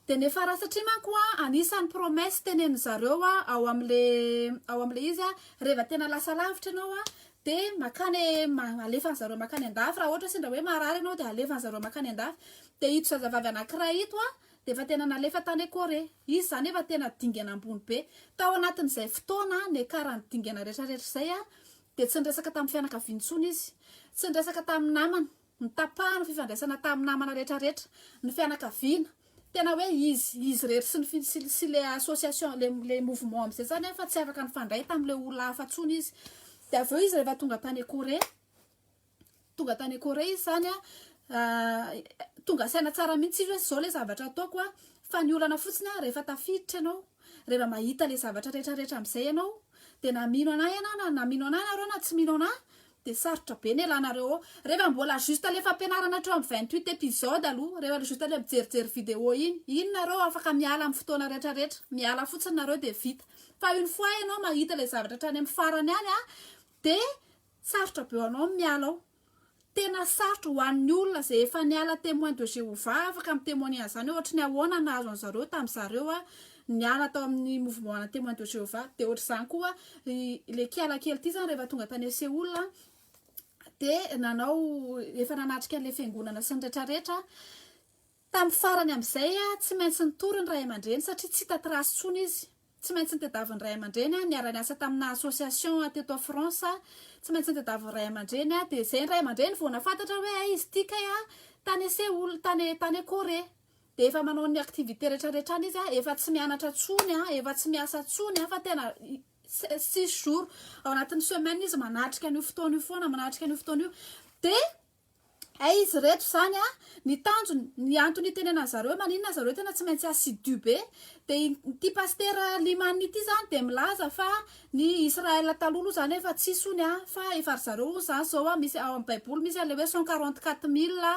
Dia ny fara satria manko a anisan'ny promesse tenenin zareo a ao amle ao amle izy a reva tena lasa lavitra ianao a dia makany alefany zareo makany andafy raha ohatra sendra hoe marary ianao dia alefany zareo makany andafy dia ito zazavavy anakiray ito a dia efa tena nalefa tany Corée izy zany efa tena dingana ambony be tao anatin'izay fotoana niakarany dingana retraretra izay a dia tsy niresaka tamin'ny fianakaviany intsony izy tsy niresaka tamin'ny namany Nitapahany fifandraisana tamin'ny namana rehetra rehetra, ny fianakaviana, tena hoe izy izy irery sy ny sy sy le association le le mouvement amizay zany an fa tsy afaka nifandray tamle olona hafa tsony izy de avy eo izy rehefa tonga tany Corée tonga tany Corée izy zany an tonga saina tsara mihitsy izy hoe zao le zavatra ataoko an fa ny olana fotsiny an rehefa tafiditra ianao Rehefa mahita ilay zavatra rehetra rehetra amin'izay ianao dia na mino anah ianao na na mino anah ianareo na tsy mino anah dia sarotra be ny elanareo ao rehefa mbola juste ilay fampianarana hatreo amin'ny vingt huit episode aloha rehefa ilay juste ilay mijerijery video iny iny nareo afaka miala amin'ny fotoana rehetra rehetra miala fotsiny nareo dia vita fa une fois ianao mahita ilay zavatra hatrany amin'ny farany any a dia sarotra be ho anao ny miala ao Tena sarotra ho an'ny olona izay efa niala Témoins de Jéhovah afaka mi-témoigner an'izany hoe ohatry ny ahoana ny nahazo an'zareo tamin'ny zareo niala tao amin'ny mouvement ana Témoins de Jéhovah. Dia ohatr'izany koa ilay kiala kely ity izany rehefa tonga tany Séoul dia nanao efa nanatrika an'ilay fiangonana sy ny retraretra Tamin'ny farany amin'izay, tsy maintsy nitory ny ray aman-dreny satria tsy hita trace intsony izy. Tsy maintsy nitadiavin'ny ray aman-dreny niara-niasa tamina association teto France. Tsy maintsy nitadiavin'ny ray aman-dreny, dia izay ny ray aman-dreny vao nahafantatra hoe hay izy ity kay tany ese ol tany tany Corée. Dia efa manao ny activité rehetra rehetra any izy, efa tsy mianatra intsony, efa tsy miasa intsony fa tena six jours ao anatin'ny semaine izy manatrika an'io fotoana io foana, manatrika an'io fotoana io. Dia Hay izy reto zany a, ny tanjony, ny antony itenenany zareo maninona zareo tena tsy maintsy assidu be, de ity pasitera Liman ity zany de milaza fa ny Israel taloha aloha zany efa tsisy hono a, fa efa ry zareo hono zany zao a, misy ao amin'ny baiboly misy an'le hoe cent quarante quatre mille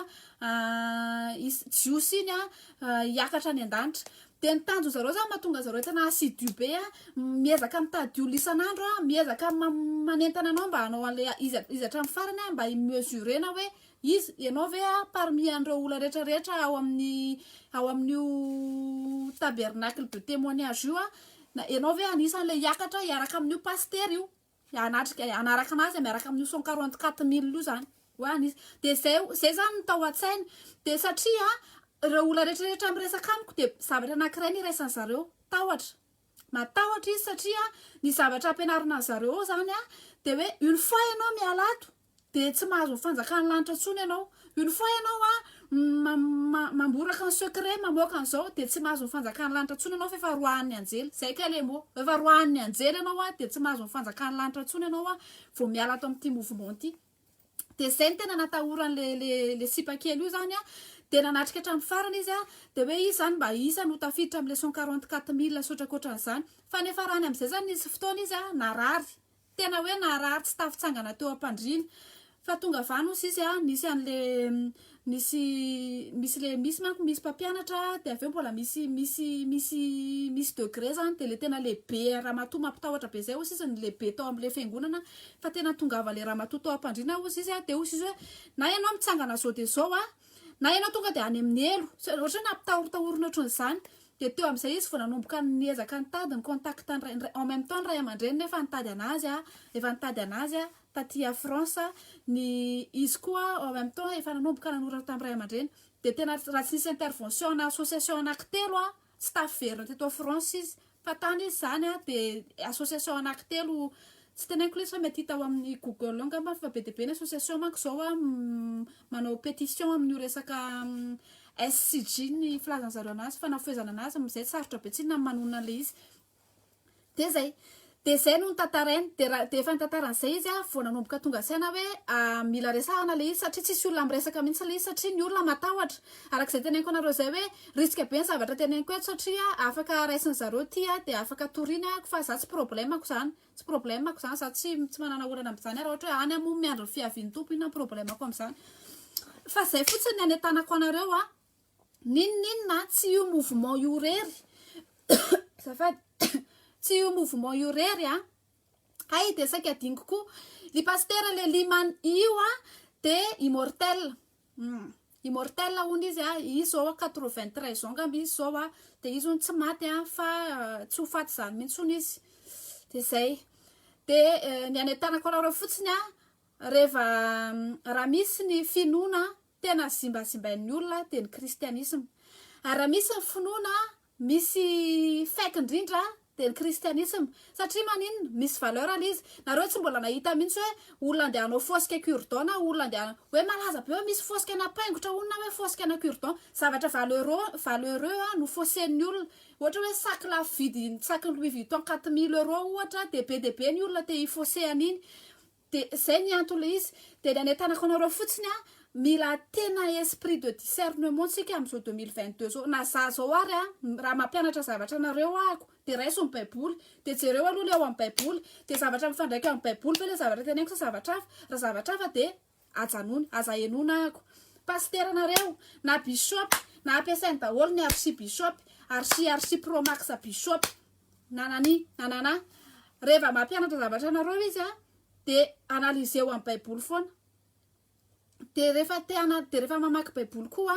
jiosy iny a hiakatra any an-danitra. Dia ny tanjon'ny zareo zany mahatonga an'i zareo tena assidu be a, miezaka mitady olona isan'andro a, miezaka manentana anao mba hanao an'le izy izy hatramin'ny farany a, mba hi mesurer-na hoe izy ianao ve a parmi an'ireo olona rehetra rehetra ao amin'ny ao amin'io tabernacle de témoignage io a, na ianao ve anisan'le hiakatra hiaraka amin'io pasitera io. hanatrika hanaraka anazy miaraka amin'io son quarante quatre mille io zany hoe anisy de zay zay zany ny tao an-tsainy de satria ireo olona rehetra rehetra miresaka amiko de zavatra anankiray ny iraisan'ny zareo tahotra matahotra izy satria ny zavatra ampianarina an'zareo ao zany a de hoe une fois ianao miala ato dia tsy mahazo ny fanjakan'ny lanitra intsony ianao. Une fois ianao a ma- ma- mamboraka ny secret mamoaka an'izao dia tsy mahazo ny fanjakan'ny lanitra intsony ianao f'efa roahan'ny anjely. Izay kay le mot. Efa roahan'ny anjely ianao a dia tsy mahazo ny fanjakan'ny lanitra intsony ianao a vao miala ato amin'ity mouvement ity. Dia izay ny tena natahorany le le le sipa kely io zany a. Dia nanatrika hatramin'ny farany izy a. Dia hoe izy zany mba isa no tafiditra amin'ny le cent quarante quatre mille sy ohatrakotran'izany. Fa niafarany amin'izay zany nisy fotoana izy a narary. Tena hoe naharary tsy tafitsangana teo ampandriana fa tonga vany osa izy a, nisy anle nisy misy le misy manko misy mpampianatra de aveo mbola misy misy misy misy degré zany de le tena lehibe ramatoa mampitahotra be zay osa izy ny lehibe tao amle fiangonana fa tena tongava le ramatoa tao ampandriana osa izy a de osa izy hoe na ianao mitsangana zao de zao a na ianao tonga de any aminy elo, ohatry hoe nampitahorotahorina ohatran'zany Dia teo amin'izay izy vao nanomboka niezaka nitady ny contact ny ray, en même temps ny ray aman-dreniny efa nitady an'azy, efa nitady an'azy taty à France, ny izy koa en même temps efa nanomboka nanoratra tamin'ny ray aman-dreny, dia tena raha tsy nisy intervention ana association anankitelo tsy tafiverina teto à France izy, fa tany izy izany dia association anankitelo, tsy teneniko lesy fa mety hita ao amin'ny google ao ngamba fa be dia be ny association manko izao manao petition amin'io resaka SCG ny filazan'ny zareo anazy fa nafehezana anazy amin'izay sarotra be tsinona ny manonona an'ilay izy dia izay dia izay no nitantarainy dia raha dia efa nitantara an'izay izy ah vao nanomboka tonga saina hoe ah, mila resahana ilay izy satria tsisy olona miresaka mihitsy ilay izy satria ny olona matahotra arak'izay teneniko anareo izay hoe risque be ny zavatra teneniko eto satria afaka raisin'ny zareo ity ah dia afaka toriana ah fa za tsy problème-ko izany Tsy problème ko zany za tsy tsy manana olana amzany ary ohatra hoe any mo miandry ny fiavian'ny Tompo inona ny problème ko amzany fa zay fotsiny ny anetanako anareo a n'inon'inona tsy io mouvement io rery azafady tsy io mouvement io rery a hay de saika adinoko koa ry pasitera le liman io a de immortel Humm. Immortel hono izy a, izy zao a quatre vingt treize ans ngamba izy zao a, de izy hono tsy maty a, fa tsy ho faty zany mihitsy hono izy, de zay, de ny any an-tanako araorao fotsiny a, reva raha misy ny finoana tena zimbazimbain'ny olona de ny kristianisma, ary raha misy ny finoana misy fake indrindra dia ny kristianisma satria maninona misy valeur ilay izy nareo tsy mbola nahita mihitsy hoe olona andeha hanao fosque cure-dent na olona andeha hanao hoe malaza be hoe misy fosque ana paingotra hono na hoe fosque ana cure-dent zavatra valeureux valeureux no fausse-n'ny olona ohatra hoe sac lafo vidy sac louis vuitton quatre mille euros ohatra dia be dia be ny olona te hi-fausse an'iny De zay ny antony le izy, de ny anetanako anareo fotsiny an, mila tena esprit de discernement tsika am zao deux mille vingt deux zao, na za zao ary an, raha mampianatra zavatra anareo ahako de raiso ny baiboly, de jereo aloha le ao am baiboly, de zavatra mifandraika am baiboly ve le zavatra teneniko sa zavatra hafa, raha zavatra hafa de ajanony, aza henoina ahako, pasitera nareo, na bisôpy, na ampiasainy daholo ny archi bisôpy, archi archi pro max bisôpy, na nani na nana rehefa mampianatra zavatra anareo izy a dia analyseo amin'ny baiboly foana dia rehefa te ana dia rehefa mamaky baiboly koa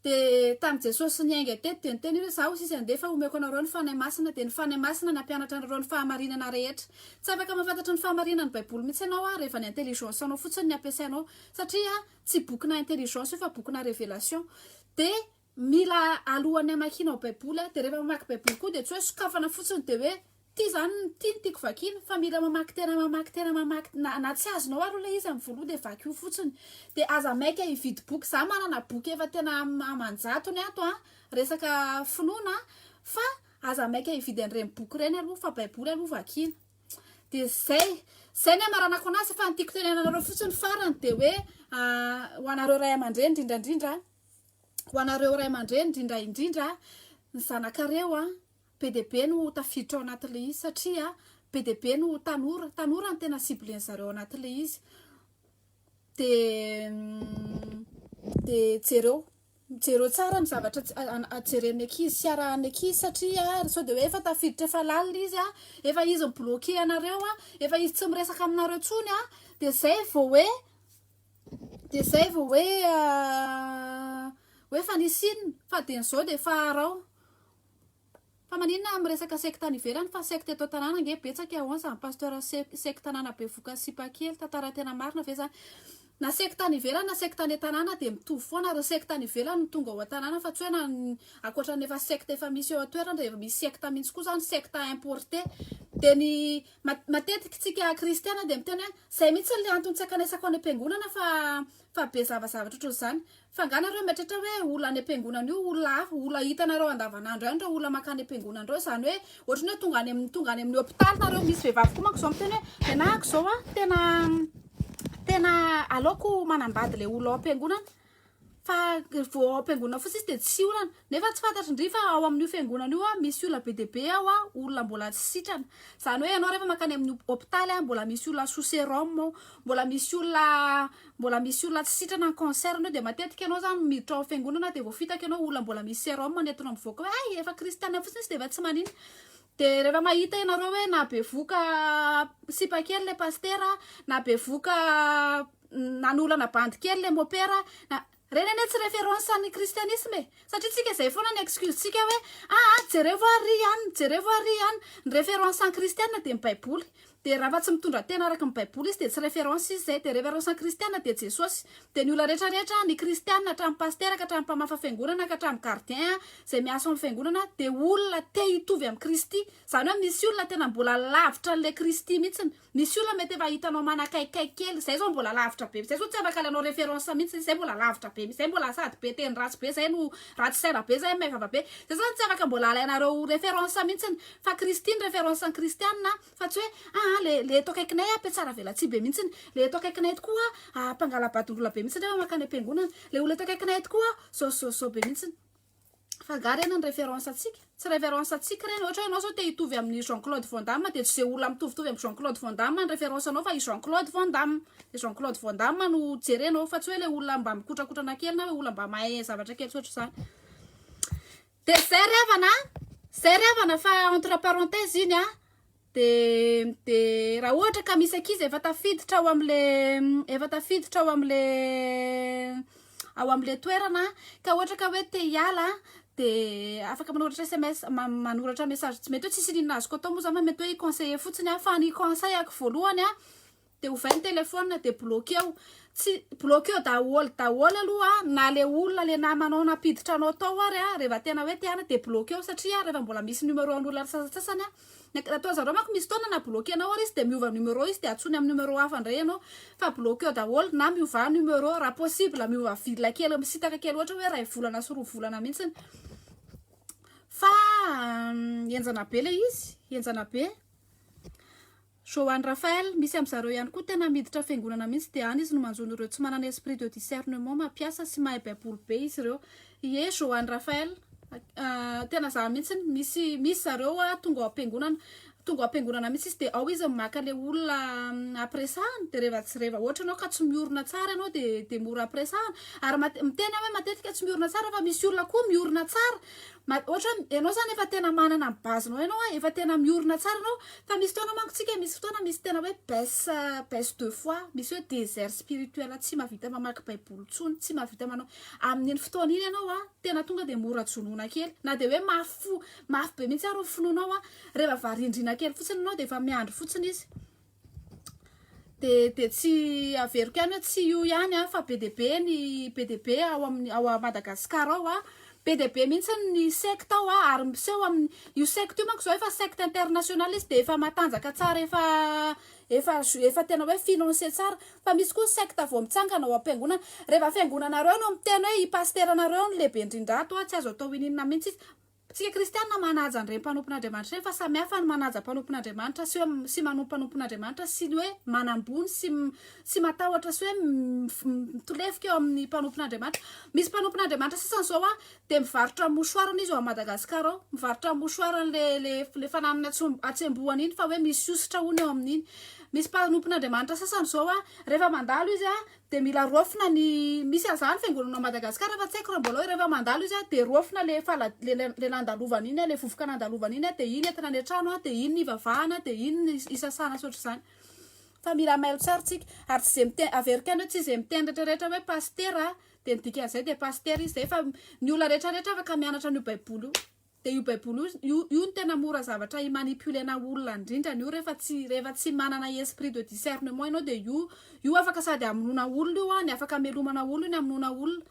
dia tamin'i jesosy niainga teto dia niteny hoe zaho sisa ndefa homeko anareo ny fanahy masina dia ny fanahy masina nampianatra anareo ny fahamarinana rehetra tsy afaka mahafantatra ny fahamarinan'ny baiboly mihitsy ianao a rehefa ny intelligence anao fotsiny ny ampiasainao satria tsy bokina intelligence io fa bokina révélation dia Mila alohan'ny hamakianao baiboly dia rehefa mamaky baiboly koa dia tsy hoe sokafana fotsiny dia hoe ity zany no ity no tiako vakiana fa mila mamaky tena mamaky tena mamaky na, na tsy azonao ary ilay izy amin'ny voaloha dia vakio fotsiny dia aza maika hividy boky za manana boky efa tena aman-jatony ato a resaka finoana fa aza maika hividy an'ireny boky ireny aloha fa baiboly aloha vakiana dia zay zay ny amaranako anazy fa ny tiako tenenanareo fotsiny farany dia hoe ah, ho anareo ray aman-dreny indrindra indrindra ho anareo ray aman-dreny indrindra indrindra ny zanakareo an, be dia be no tafiditra ao anatin'ilay izy satria be dia be no tanora, tanora no tena cible-ny zareo ao anatin'ilay izy dia dia jereo jereo tsara ny zavatra jeren'ny ankizy sy arahan'ny ankizy satria sao dia hoe efa tafiditra efa lalina izy an, efa izy mi-bloquer anareo an, efa izy tsy miresaka aminareo intsony an, dia izay vao hoe Dia zay vao hoe hoe fa nisy inona fa dia nizao dia fa arao fa maninona miresaka secte any ivelany fa secte eto an-tanàna ange betsaka ahoana izany pasteur secte tanàna bevoka sipa kely tantara tena marina ve izany na secte any ivelany na secte any an-tanàna dia mitovy foana ary ny secte any ivelany no tonga ao an-tanàna fa tsy hoe na ankoatra ny efa secte efa misy eo an-toerana dia efa misy secte mihitsy koa izany secte importé dia ny matetika isika kristiana dia miteny hoe Zay mihitsy le antony tsy ankanaisako any am-piangonana fa fa be zava zavatra ohatran'izany. Fa nga nareo mieritreritra hoe olona any am-piangonana io olona hafa, olona hitanareo andavanandro ihany reo olona mankany am-piangonana reo, zany hoe ohatran'ny hoe tonga any amin'ny tonga any amin'ny hopitaly nareo, misy vehivavy koa manko zao miteny hoe nenahako zao a tena tena aleoko manambady le olona ao am-piangonana, fa vao ao am-piangonana fotsiny izy dia tsy olana nefa tsy fantatry ndry fa ao amin'io fiangonana io a misy olona be dia be ao a olona mbola tsy sitrana izany hoe ianao rehefa mankany amin'ny hopitaly a mbola misy olona sous sérum ao mbola misy olona mbola misy olona tsy sitrana ny cancer anao dia matetika ianao izany miditra ao amin'ny fiangonana dia vao fitaka ianao olona mbola misy sérum nentinao mivoaka hoe hay efa kristiana fotsiny izy dia efa tsy maninona De rehefa mahita ianareo hoe na bevoka sipa kely le pasitera na bevoka nanolana bandy kely le mopera na reny anie tsy référence an'ny christianisme e satria tsika zay foana ny excuse tsika hoe aa jerevo ary ry an jerevo ary ry an ny référence an'ny kristiana de ny baiboly Dia raha fa tsy mitondra tena araka ny baiboly izy dia tsy reference izy izay, dia reference ny kristiana dia Jesosy, dia ny olona rehetra rehetra ny kristiana hatramin'ny pasitera ka hatramin'ny mpamafa fiangonana ka hatramin'ny gardien izay miasa ao amin'ny fiangonana dia olona te hitovy amin'i Kristy, izany hoe misy olona tena mbola lavitra an'ilay Kristy mihitsy, misy olona mety efa hitanao manakaikikaiky kely, izay izao mbola lavitra be, izay izao tsy afaka alanao reference mihitsy, izay mbola lavitra be mihitsy, izay mbola sady be teny ratsy be izay no ratsy saina be izay maivava be, izay izao tsy afaka mbola alainareo reference mihitsy, Fa Kristy ny référence an'ny Kristianina fa tsy hoe aa le le eto akaikinay a mpiatsaravelatsihy be mihitsiny, le eto akaikinay tokoa a mpangalabadongolahy be mihitsiny rehefa mankany am-piangonana, le olona eto akaikinay tokoa a zao sy zao sy zao be mihitsiny. Fa nga reny ny référence antsika? Tsy référence antsika reny, ohatra hoe ianao zao te hitovy amin'ny Jean Claude Van Damme de tsy ze olona mitovitovy amin'ny Jean Claude Van Damme ny référence anao fa i Jean Claude Van Damme, le Jean Claude Van Damme no jerenao fa tsy hoe le olona mba mikotrakotrana kely na hoe olona mba mahay zavatra kely tsy ohatr'izany. Dia zay ry havana an! Zay ry havana fa entre parenthèse iny an! Dia dia raha ohatra ka misy ankizy efa tafiditra ao amin'le efa tafiditra ao amin'le ao amin'le toerana ka ohatra ka hoe te hiala dia afaka manoratra SMS ma- manoratra message tsy mety hoe tsisy inona azoko atao moa zany fa mety hoe i-conseiller fotsiny an! Fa ny conseil-ako voalohany an! de ovay ny telephone de bloqueo tsy bloqueo daholo daholo aloha na le olona le namanao nampiditra anao tao ary a rehefa tena hoe te hana de bloqueo satria rehefa mbola misy numero an'olona sasatsasany a ataon'ny zareo manko misy fotoana na bloquenao ary izy de miova numero izy de antsoiny amin'ny numero hafa indray ianao fa bloqueo daholo na miovà numero raha possible miova ville kely misintaka kely ohatra hoe iray volana sy roa volana mihitsiny fa henjana be le izy henjana be Johann Raphael, misy amzareo ihany koa tena miditra fiangonana mihitsy dia any izy no manjono ireo tsy manana esprit de discernement mampiasa sy mahay baiboly be izy ireo iee Johann Raphael ah tena za mihitsy misy misy zareo ah tonga ao ampiangonana tonga ao ampiangonana mihitsy izy dia ao izy no maka le olona ampiresahany dia rehefa tsy rehefa ohatra ianao ka tsy miorina tsara ianao dia dia mora ampiresahana ary miteny aho hoe matetika tsy miorina tsara fa misy olona koa miorina tsara Ohatrany ianao izany efa tena manana ny base-nao ianao, efa tena miorina tsara ianao. Fa misy fotoana manko isika, misy fotoana misy tena hoe baisse, baisse de foi, misy hoe désert spirituel, tsy mahavita mamaky baiboly intsony, tsy mahavita manao. Amin'iny fotoana iny ianao tena tonga dia mora jonoina kely. Na dia hoe mafy fo, mafy be mihitsy ary ny finoanao, rehefa varindrina kely fotsiny ianao dia efa miandry fotsiny izy. dia dia tsy averiko ihany hoe tsy io ihany an, fa be dia be ny be dia be ao amin'ny ao a Madagascar ao an, be dia be mihitsy ny secte ao an, ary miseho amin'ny io secte io manko izao efa secte international izy dia efa matanjaka tsara efa efa efa tena hoe finance tsara, fa misy koa secte vao mitsangana ao am-piangonana, rehefa fiangonanareo no miteny hoe i pasiteranareo no lehibe indrindra ato an, tsy azo atao ininona mihitsy izy, Isika kristiana manaja an'ireny mpanompon'Andriamanitra ireny fa samy hafa ny manaja mpanompon'Andriamanitra sy hoe sy manompo mpanompon'Andriamanitra sy ny hoe manambony sy sy matahotra sy hoe mitolefika eo amin'ny mpanompon'Andriamanitra. Misy mpanompon'Andriamanitra sasany izao a dia mivarotra mouchoir ny izy ao à Madagascar ao. Mivarotra mouchoir an'le le le fananany atsom- atsembohany iny fa hoe misy hosotra hono eo amin'iny. Misy mpanompon'Andriamanitra sasany izao a rehefa mandalo izy a Dia mila roafina ny misy an'izany fiangonana ao Madagasikara fa tsy haiko raha mbola ao, rehefa mandalo izy dia roafina ilay fala ilay nandalovany iny, ilay vovoka nandalovany iny dia iny entina any an-trano, dia iny ny ivavahana, dia iny ny isasana sy ohatr'izany. Fa mila mailo tsara tsika. Ary tsy izay miteny, averiko ihany hoe tsy izay miteny retraretra hoe pasitera dia ny dikan'izay dia pasitera izy izay fa ny olona retraretra afaka mianatra an'io baiboly io. Dia io baiboly io io no tena mora zavatra hi manipulena olona indrindrany io rehefa tsy rehefa tsy manana esprit de discernement ianao dia io io afaka sady hamonoana olona io any afaka hamelomana olona iny hamonoana olona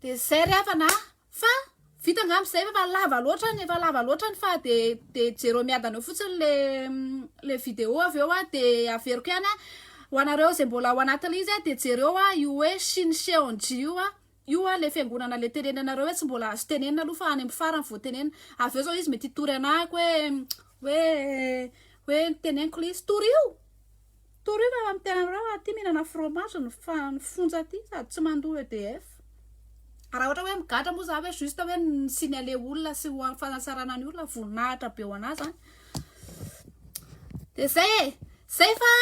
dia zay ry havana a fa vita angamba izay efa lava loatra ny efa lava loatra ny fa dia dia jereo miadana eo fotsiny le le vidéo avy eo a dia averiko ihany a ho anareo izay mbola ao anatin'ilay izy a dia jereo a io hoe shin cheonji io a Io hoa le fiangonana le tenenanareo hoe tsy mbola azo tenenina aloha fa any amin'ny farany vao tenenina. Avy eo zao izy mety hitory anahako hoe hoe hoe teneniko le izy torio! Torio fa efa miteny anareo aho aty mihinana fromage ny fa ny fonja aty sady tsy mandoa EDF. Raha ohatra hoe migadra moa za hoe juste hoe ny signaler olona sy ho amin'ny fanatsarana ny olona voninahitra be ho anah zany. dia izay e izay fa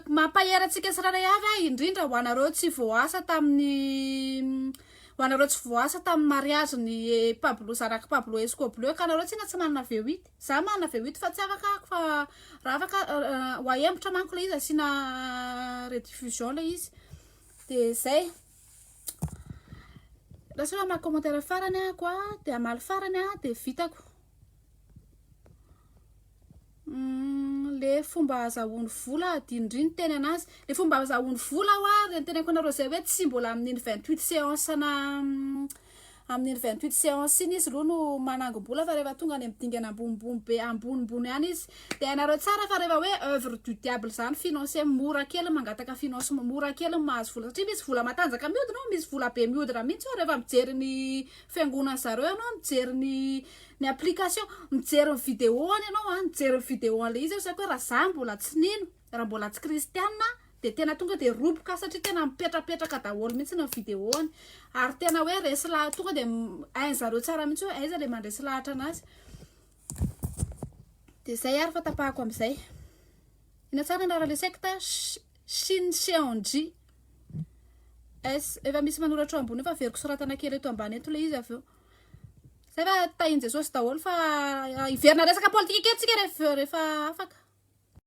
mampahery antsika tsirairay avy ahy indrindra ho anareo tsy voasa tamin'ny ho anareo tsy voasa tamin'ny mariage ny pablo zanaka pablo escoblo ka anareo tena tsy manana vewit za manana vewit fa tsy afaka ako fa raha afaka ho ahembotra manko ilay izy asiana rediffusion ilay izy dia izay lasa hoe hamaky commentaire farany aho koa dia hamaly farany aho dia vitako Mm, le fomba azahoany vola adinodrino teny anazy le fomba azahoany vola ho ary le nteneko anareo zay hoe tsy mbola amin'iny vingt huit séance na mm, amin'iny vingt huit séance iny izy loha no manangom-bola fa rehefa tonga any amin'ny dingana ambonimbony be ambonimbony any izy de hainareo tsara fa rehefa hoe œuvre du diable zany financier mora kely mangataka finance mora kely mahazo vola satria misy vola matanjaka miodina ao misy vola be miodina mihitsy ao rehefa mijery ny fiangonan'ny zareo ianao mijery ny ny application mijery ny vidéo any ianao a mijery ny vidéo an'ilay izy aho saika hoe raha za mbola tsy nino raha mbola tsy kristianina aho dia tena tonga dia roboka satria tena mipetrapetraka daholo mihitsy ny vidéo any ary tena hoe resy laha tonga dia hainy zareo tsara mihitsy hoe aiza le mandresy lahatra anazy dia zay ary fa tapahako am'izay ina tsara anarana le secte Shin Seonji S efa misy manoratra eo ambony efa averiko soratana kely eto ambany eto le izy avy eo Zay fa tahin'i Jesosy daholo fa hiverina resaka politika kely tsika rehefa afaka.